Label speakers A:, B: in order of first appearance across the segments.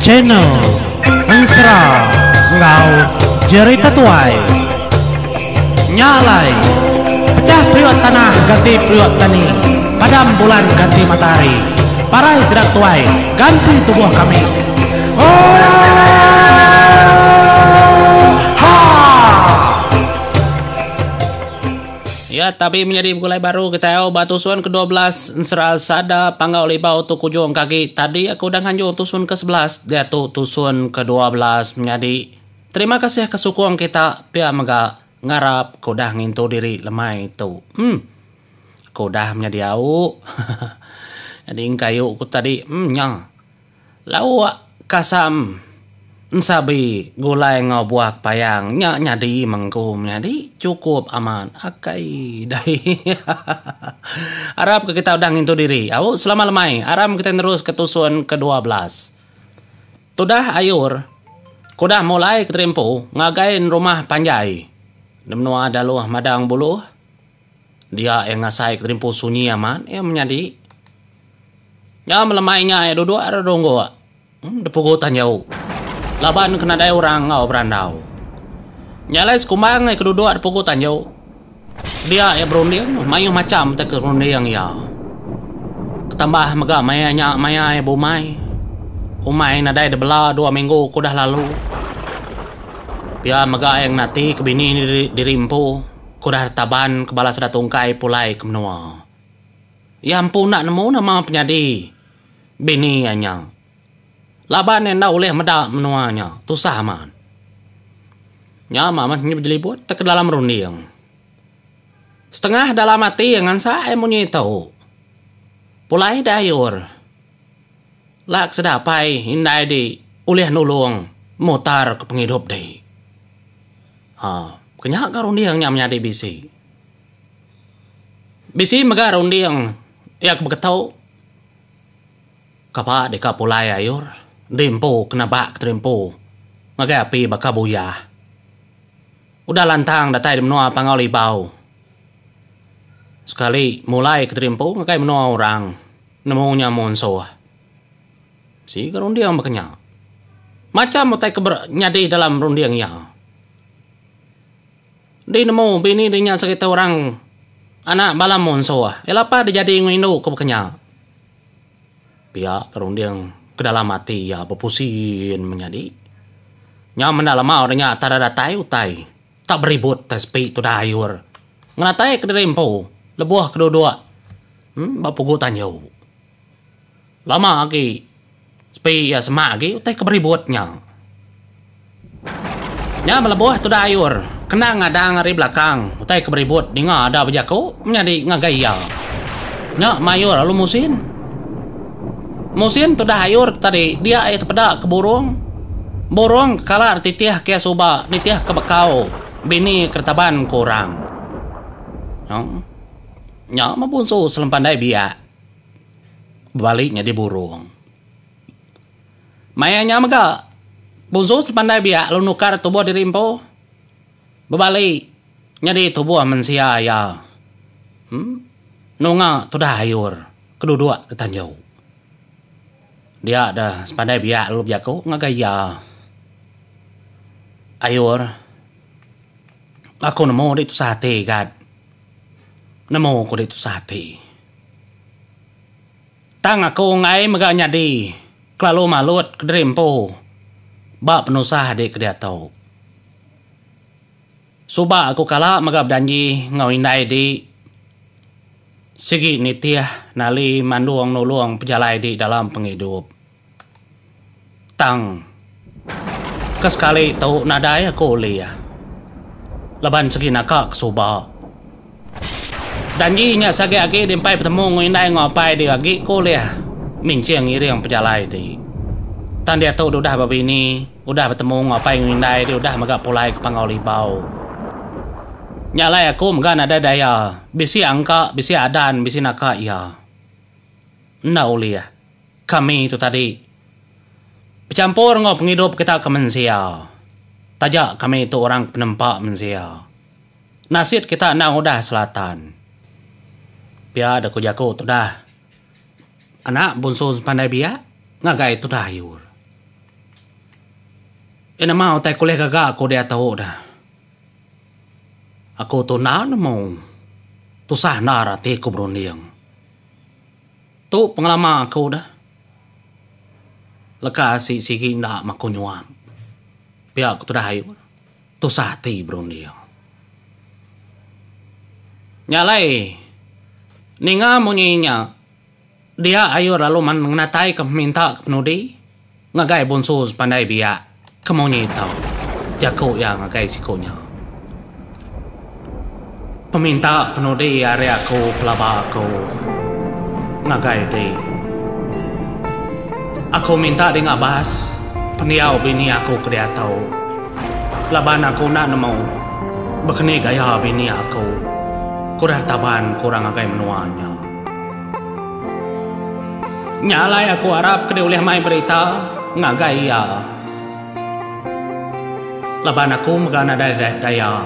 A: Channel Ensera enggau Jerita Tuai Nya alai Pecah periuk tanah ganti periuk tani Padam bulan ganti matahari Parai sidak tuai ganti tubuh kami Oohh Haa. Ya, tapi menyadi begulai baru ke tau ba tusun ke 12 ensera sada panggau libau tu kujung kagi tadi aku udah nganjung tusun ke 11 diatu tusun ke 12 menyadi. Terima kasih ke sukung kita pia mega ngarap ke udah ngintu diri lemai tu. Hmm. Aku udah menyadi au. Jadi engka ayu ku tadi. Hmm nya. Lauk kasam ensabi gulai enggau buah kepayang nya nyadi mengku menyadi chukup amat akai dai hahaha arap ke kita udah ngintu diri au selama lemai aram kitai nerus ke tusun ke dua belas tudah ayur ke udah mulai ke terimpu ngagai rumah panjai di menua Daloh Madang Buluh. Dia iya ngasai keterimpu sunyi amat iya menyadi. Nya melemai nya iya duduk ari runggu depugu tan jauh laban ke nadai orang enggau berandau. Nya alai sekumbang iya ke duduk depugu tan jauh. Dia iya berunding mayuh macham ti kerunding iya. Ketambah mega maya nya maya iya beumai. Umai nadai dibela dua minggu ke udah lalu. Pia mega iya ngenati ke bini diri empu. Ku Dara Taban ke bala sida tungkai pulai ke menua. Iya empu enda nemu nama penyadi bini iya nya. Laban iya enda ulih meda menua nya tusah amat. Nya mah meh bejelibut te ke dalam runding. Setengah dalam ati iya ngansa ai munyi tu. Pulai deh ayur. Ela ke sida apai indai di ulih nulung mutar ke pengidup dih. Ha, ke nya ga runding nya menyadi bisi. Bisi mega runding iya ke beketu kapa deka pulai ayur di empu ke nebak ke terimpu ngagai api baka buyah. Udah lantang datai di menua Pangau Libau sekali mulai ke terimpu ngagai menua orang nemu nya munsuh. Sigi ke runding baka nya. Macham utai ke ber nyadi dalam runding iya. Di nemu bini di nya sereta orang anak bala munsuh. Iya lapas di jadi enggau indu ke baka nya. Pia ke runding ke dalam ati iya bepusin menyadi. Nya menda lemau de nya tara datai utai tak beribut utai sepi tudah ayur. Ngenatai kediri empu lebuh ke duduk ba pugu tanju. Lama agi sepi iya semak agi utai ke beribut nya. Nya melebuh tuda Ayur kena ngadang ari belakang utai ke beribut ninga ada bejaku menyadi ngagai iya. Nya mayuh lalu musin. Musin tudah Ayur ke tadi dia iya tepeda ke burung. Burung ke kala dititih ke iya suba nitih ke bekau bini ke ditaban ke orang. Nya mebunsu selempandai biak. bebali nyadi burung. Maya nya mega, Buzu sepandai biak lalu nukar tubuh diri empu bebali nyadi tubuh mensia iya nunga tudah ayur ke duduk di tanju. Dia deh sepandai biak lalu bejaku ngagai iya, Ayur, aku nemu dik tusah ati gat. Nemu ku dik tusah ati. Tang aku enggai mega nyadi kelalu malut kediri empu ba penusah adi ke diatu. Suba aku kala mega bejanji enggau indai di sigi nitih nali mandung nulung pejalai di dalam pengidup. Tang. Ke sekali tu nadai aku ulih. Laban segi naka ke suba. Janji nya sagi agi di empai betemu enggau indai enggau apai diri agi ku ulih minching ngiring pejalai ti. Tang diatu deh udah bebini, udah betemu enggau apai enggau indai deh udah mega pulai ke Panggau Libau. Nya alai aku mega nadai daya. Bisi angka, bisi adan, bisi naka iya. Enda ulih. Kami tu tadi bechampur enggau pengidup kita ke mensia taja kami tu orang ke penempa mensia. Nasit kita endang udah selatan. Pia deh ku jaku tudah anak bunsu sepandai biak ngagai tudah ayur. Iya nama utai kulih gaga aku diatu dah. Aku tu enda nemu tusah endar ati ku berunding. Tu pengelama aku dah. Leka asi sigi enda maku nyuap. Pia ku tudah ayu ne, tusah ati berunding. Nya alai ninga munyi nya dia ayu lalu menginatai ke peminta ke penudi. Ngagai bonsu sepandai biak ke munyi tau jaku iya ngagai siku nya. Peminta penudi ari aku pelaba aku ngagai di. Aku minta di ngabas pendiau bini aku ke diatu laban aku enda nemu bekeni gaya bini aku ku Rartaban ke orang ngagai menua nya. Nya alai aku arap ke diulih mai berita ngagai iya. Laban aku mega nadai daya.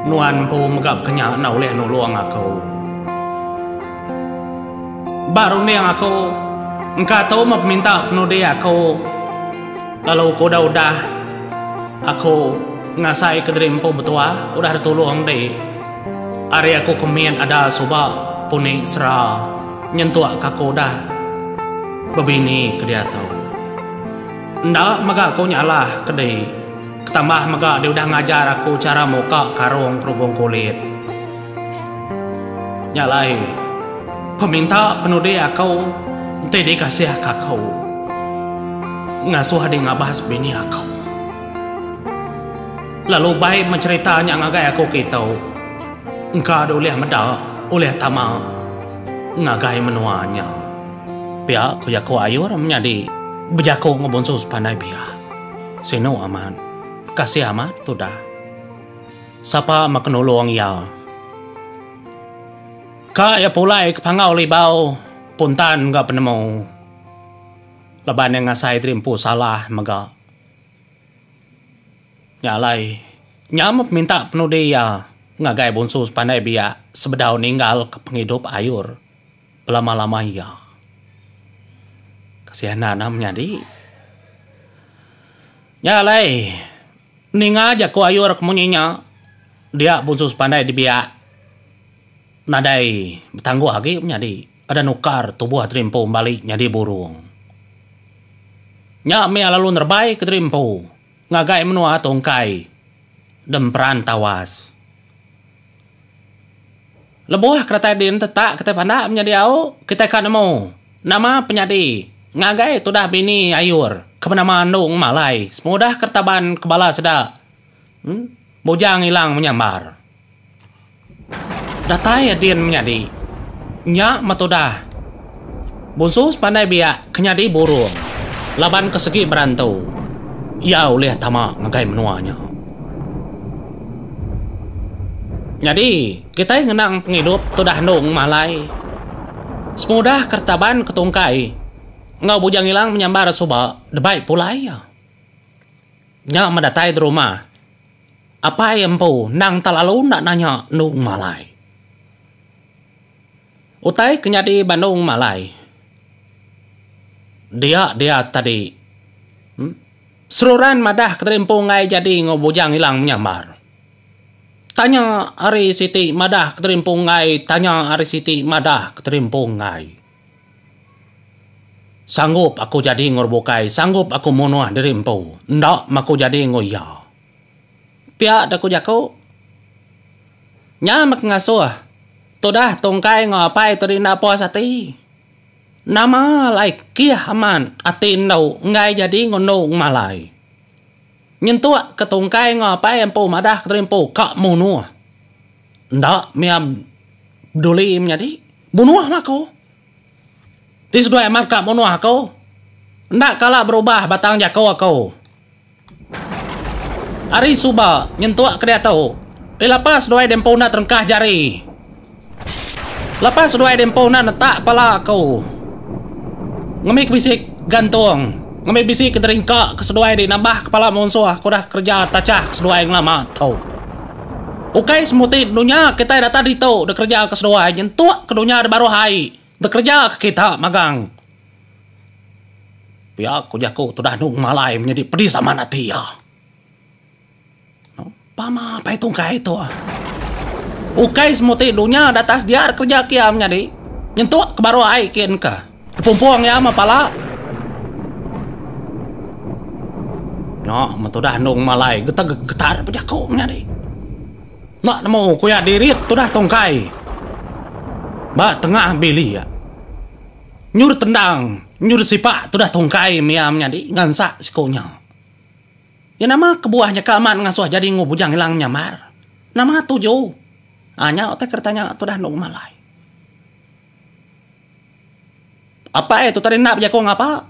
A: Nuan empu mega baka nya enda ulih nulung aku. Ba runding aku, engka tu meh peminta penudi aku lalu ku udah udah aku ngasaika diri empu betuah udah ditulung enti. Ari aku ke mit ada suba puni sera nyentuk ka aku udah bebini ke diatu. Enda mega aku nyalah ke di ketambah mega dia udah ngajar aku chara muka karung kerubung kulit. Nya alai peminta penudi aku enti dikasih ka aku ngasuh di ngabas bini aku. Lalu bai mencerita nya ngagai aku kita engka ada ulih meda ulih tama ngagai menua nya. Pia ku jaku Ayur menyadi bejaku enggau bonsu sepandai pia. Sinu amat. Kasih amat tudah. Sapa mega nulung iya. Ka iya pulai ke Panggau Libau puntan enggau penemu laban iya ngasai diri empu salah mega. Nya alai, nya meh peminta penudi iya ngagai Bonsu Sepandai Biak sebedau ninggalka pengidup ayur belama-lama iya. Kesianan am nyadi. Nya alai, ninga jaku ayur ke munyi nya, dia Bonsu Sepandai Dibiak nadai betangguh agi menyadi enda nukar tubuh diri empu bali nyadi burung. Nya mih iya lalu nerebaika diri empu. Ngagai menua tungkai dem peran tawas. Lebuh keretai din tetak kitai pandak menyadi au, kitai ka nemu nama penyadi ngagai tudah bini ayur ke benama Endung Malai sepengudah keretaban ke bala sida Bujang Ilang menyambar. Datai a din menyadi. Nya meh tudah. Bunsu sepandai biak ke nyadi burung laban ke segi berantu iya ulih tama ngagai menua nya. Nyadi kitai ngenang pengidup tudah andu ngumah alai sepengudah ke retaban ke tungkai enggau Bujang Ilang menyambar suba debai pulai iya. Nya meh datai derumah. Apai empu endang telalu enda nanya endung malai. Utai ke nyadi ba endung malai dia dia tadi. Seruran madah ke tadi empu enggai jadi enggau Bujang Ilang menyambar. Tanya ari siti madah ke tadi empu enggai, tanya ari siti madah ke tadi empu enggai. Sanggup aku jadi enggau bukai, sanggup aku munuh diri empu, enda meh aku jadi enggau iya. Pia deh ku jaku. Nya meh ke ngasuh tudah tungkai enggau apai tu diri enda puas ati. Nama alai kih amat ati endu enggai jadi enggau endu ngemalai. Nyentuk ke tungkai enggau apai empu madah kediri empu ka munuh. Enda mia beduli menyadi munuh lah aku. Ti seduai amat ka munuh aku. Enda kala berubah batang jaku aku. Ari suba nyentuk ke diatu. Ila pa seduai dia empu enda terengkah jari. Lepas seduai diempuh enda netak pala aku ngembi ke bisi gantung ngembi bisi ke deringka ke seduai di nambah kepala munsuh ke udah kereja tachah ke seduai ngelama tu. Ukai semuti dunya kitai datai ditu dekereja ke seduai nyentuk ke dunya di baruh ai dekereja ke kita magang. Pia ku jaku tu dah andu ngemalai menyadi pedis amat ati iya. Pama pai tungkai tu. Ukai semuti dunya datas diar kerja kiam nyadi. Nyentuk ke baruh ai kin ka. Pumpung iya meh pala. Nya meh tudah endung malai geteg getar bejaku nyadi. Enda nemu ku iya dirit tudah tungkai. Ba tengah bilik. Nyur tendang, nyur sipak tudah tungkai mia menyadi ngansak siku nya. Iya nama kebuah nya ke amat ngasuh jadi enggau Bujang Ilang nyamar? Nama tuju? Aa nya utai ke ditanya tudah enda uma alai. Apai tu tadi enda bejaku ngapa.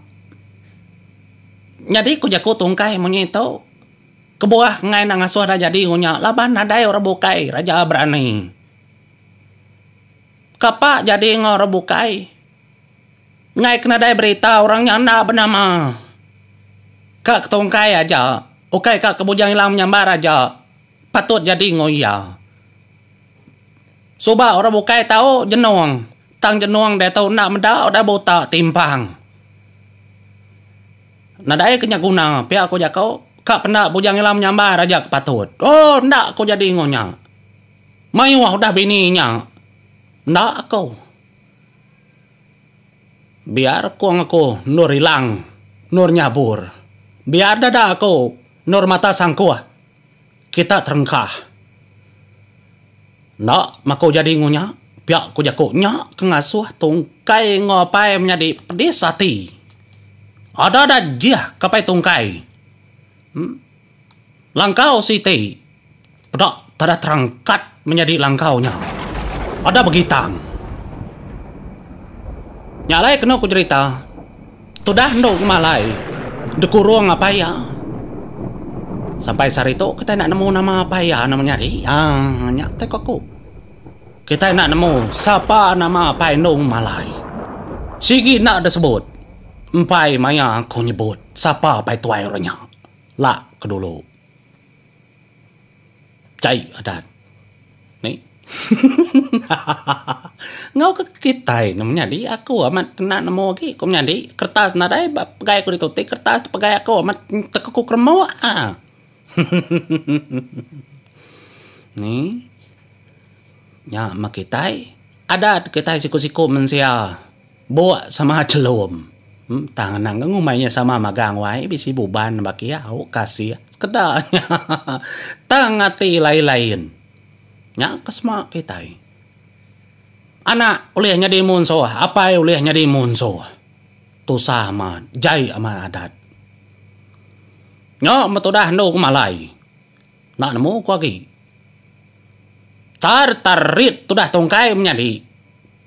A: Nyadi ku jaku tungkai munyi tu, kebuah enggai enda ngasuh enda jadi enggau nya laban nadai orang bukai raja berani. Kapa jadi enggau orang bukai? Ngaika nadai berita orang nya enda benama. Ka ketungkai aja, ukai ka ke Bujang Ilang menyambar aja patut jadi enggau iya. Suba orang bukai tau jenung, tang jenung diatu enda meda udah buta timpang. Nadai ke nya guna pia ku jaku, ka penda Bujang Ilang menyambar aja ke patut. Oh enda aku jadi enggau nya. Mayuh udah bini nya. Enda aku. Biar kong aku endur ilang, endur nyabur. Biar dada aku endur mata sangkuh. Kita terengkah. Enda meh aku jadi ngunya, pia ku jaku nya ke ngasuh tungkai enggau apai menyadi pedis ati. Ada da jih ke apai tungkai. Em. Langkau siti peda tada terangkat menyadi langkau nya ada begitang. Nya alai kenu ku jerita tudah endo ngemalai dekurung apai iya. Sampai sehari tu kitai enda nemu nama apai iya anu menyadi. Aaa nya te ku aku. Kitai enda nemu sapa nama apai endo ngemalai. Sigi enda disebut. Empai maya aku nyebut sapa apai tuai orang nya. La ke dulu. Jai adat. Enggau ke kitai ne menyadi aku amat kena nemu agi ku menyadi kertas nadai ba pegai ku ditu ti kertas ti pegai aku amat teka ku keremuk ah. Ni nya meh kitai adat kitai siku-siku mensia. Buk sama chelum. Tang anang ke ngumbai nya sama magang wai bisi buban baki au kasih sekeda nya tang ati lain-lain nya ke sema kitai. Anak ulih nyadi munsuh apai ulih nyadi munsuh. Tusah amat jai amat adat. Nya betudah endu ke malai. Enda nemu ku agi. Tar tar rit tudah tungkai menyadi.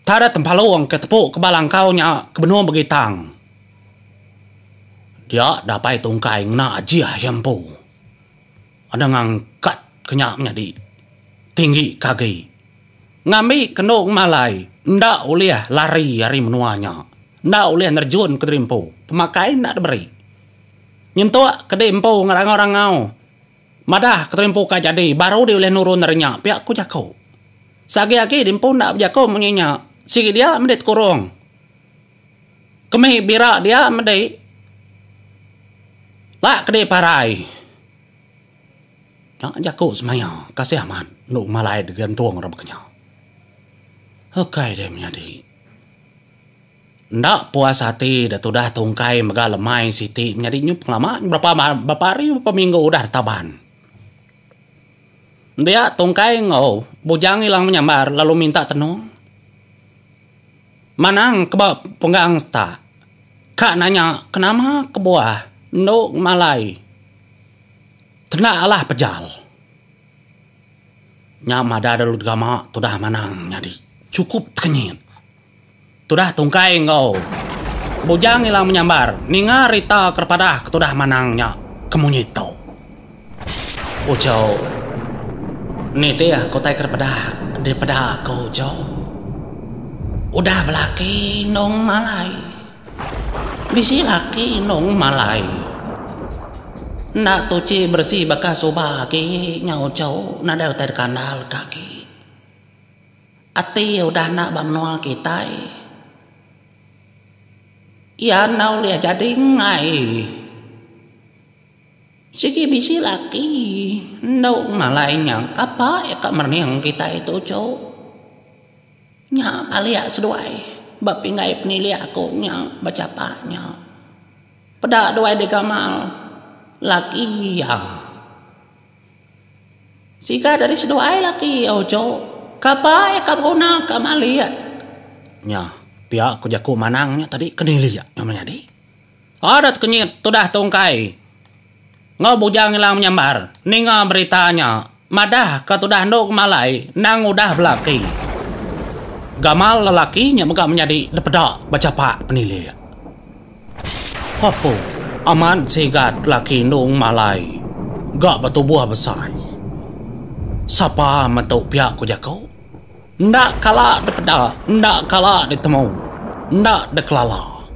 A: Tar tempalung ke tepu ke bala engkau nya ke benung bagi tang. Dia dapai tungkai ngena ajih iya empu. Enda ngangkat ke nya menyadi. Tinggi ke agi. Ngambi ke endo ngemalai enda ulih lari ari menua nya. Enda ulih nerejun ke diri empu. Pemakai enda diberi. Nyentuk ke di empu ngerangau-rangau. Madah keterimpu ka jadi baru diulih nurun ari nya pia ku jaku. Seagi agi diempu enda bejaku munyi nya sigi dia medi tekurung kemi bira dia medi la kedi parai. Nya jaku semaya kasih amat enu malai digantung ra baka nya. Ukai dia menyadi. Enda puas ati da tudah tungkai mega lemai siti menyadi nyup ngelama berapa berapa hari berapa minggu udah da taban. Dia tungkai enggau bujang ilang menyambar lalu minta tenung. Manang ke ba penggang seta ka nanya ke nama kebuah endu ngemalai tenda alah pejal. Nya madah dulu degama tudah Manang nyadi chukup tekenyit. Tudah Tungkai enggau Bujang ila menyambar ninga rita kerepadah ke tudah manang nya ke munyi tu. Ujo, Nitih ku utai kerepadah di peda aku ujo. Udah belaki inung malai. Bisi laki inung malai. Enda tuchi beresi baka suba agi nya ujo nadai utai dikandalka agi. Ati iya udah enda ba menua kitai. Iya enda ulih jadi enggai. Sigi bisi laki endu ngalai nya kapa iya ka merening kitai tu cu. Nya palik seduai ba pinggai penilih aku nya ba chapa nya. Peda duai digamal laki iya. Sigat ari seduai laki ojo kapai ka beguna ka malik. Nya pia ku jaku manang nya tadi ke nili nya meh nyadi. Adat kenyit tudah tungkai enggau bujang ila menyambar ninga berita nya madah ka tudah endo ngemalai endang udah belaki. Gamal lelaki nya mega menyadi depeda bechapak penilik. Apo amat sigat laki endung malai ga betubuh besai. Sapa mentu pia ku jaku. Enda kala dipeda, enda kala ditemu, enda dikelala.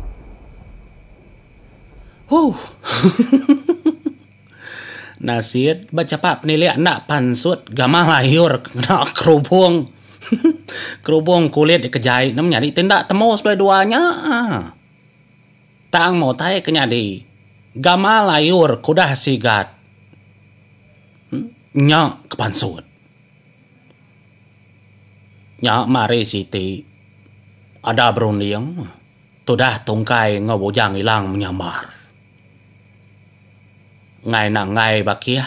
A: Huh. Nasit ba chapa penilek enda pansut gamah layur kena kerubong. Kerubong kulit dikejai ne menyadi ti enda temu seduai dua nya. Tang mutai ke nyadi gamal ayur ke udah sigat nya ke pansut. Nya mari siti ada berunding tudah tungkai enggau bujang ilang menyamar. Ngai nanggai bakih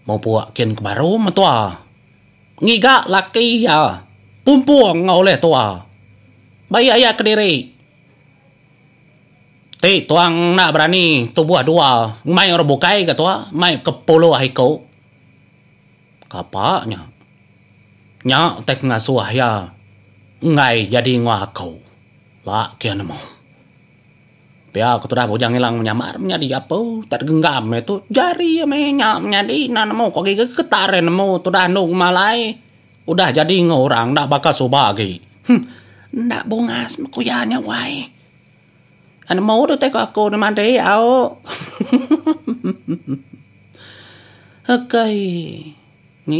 A: mupuk kin ke baru metua. Ngiga laki iya pumpung enggau ulih tua. Baik aya kediri ti tuang enda berani tubuh dua mai orang bukai ga tua mai ke puluh iku. Kapa nya. Nya utai pengasuh iya enggai jadi enggau aku. Laki nemu. Pia ku tudah Bujang Ilang menyamar menyadi gapu tak genggam iya tu jari iya meh nya menyadi enda nemu ku agi getar iya nemu tudah anu kuma alai udah jadi enggau orang enda baka suba agi. Huh enda bungas meh ku iya nya wai. Ai nemu tu utai ku aku neh madi au. Akai ni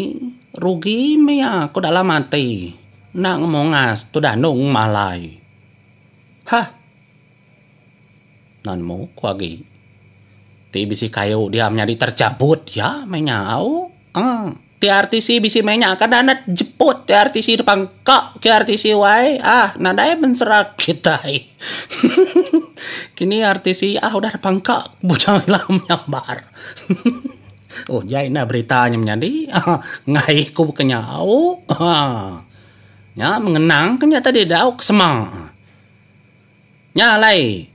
A: rugi meh iya ku dalam ati enda ngemungas tudah anu kuma alai. Hah! Nan muk ku agi ti bisi kayu dia menyadi terjabut iya meh nya au. Aa KRTC bisi meh nya kada anet jeput KRTC depa engka KRTC wai ah nadai mensera kitai. Hehehe kini RTC ah udah depa engka bujang ila menyambar. Hehehe udah indah berita nya menyadi. Aa ngai ku baka nya au. Aa. Nya mengenang ke nya tadi dau ke sema. Nya alai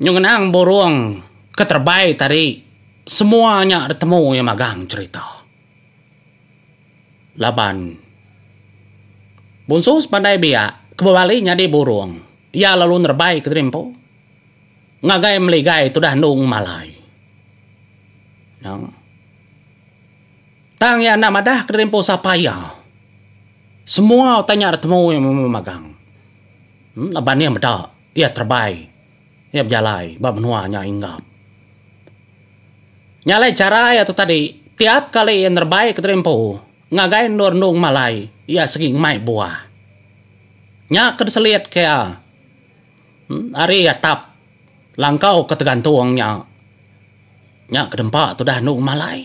A: nyau ngenang burung ke terebai tadi semua nya ditemu iya magang cherita. Laban Bonsu sepandai biak ke bebali nyadi burung iya lalu nerebai kediri empu ngagai meligai tudah endu ngemalai. Nang. Tang iya enda madah kediri empu sapa iya. Semua utai nya ditemu iya memu magang. Laban iya meda, iya terebai. Iya bejalai ba menua nya Inggap. Nya alai chara iya tu tadi, tiap kali iya nerebai kediri empu, ngagai endur-endur ngema alai, iya segi ngemai buah. Nya ke diselitka iya ari atap langkau ke tegantung nya. Nya ke dempa tudah endur ngema alai.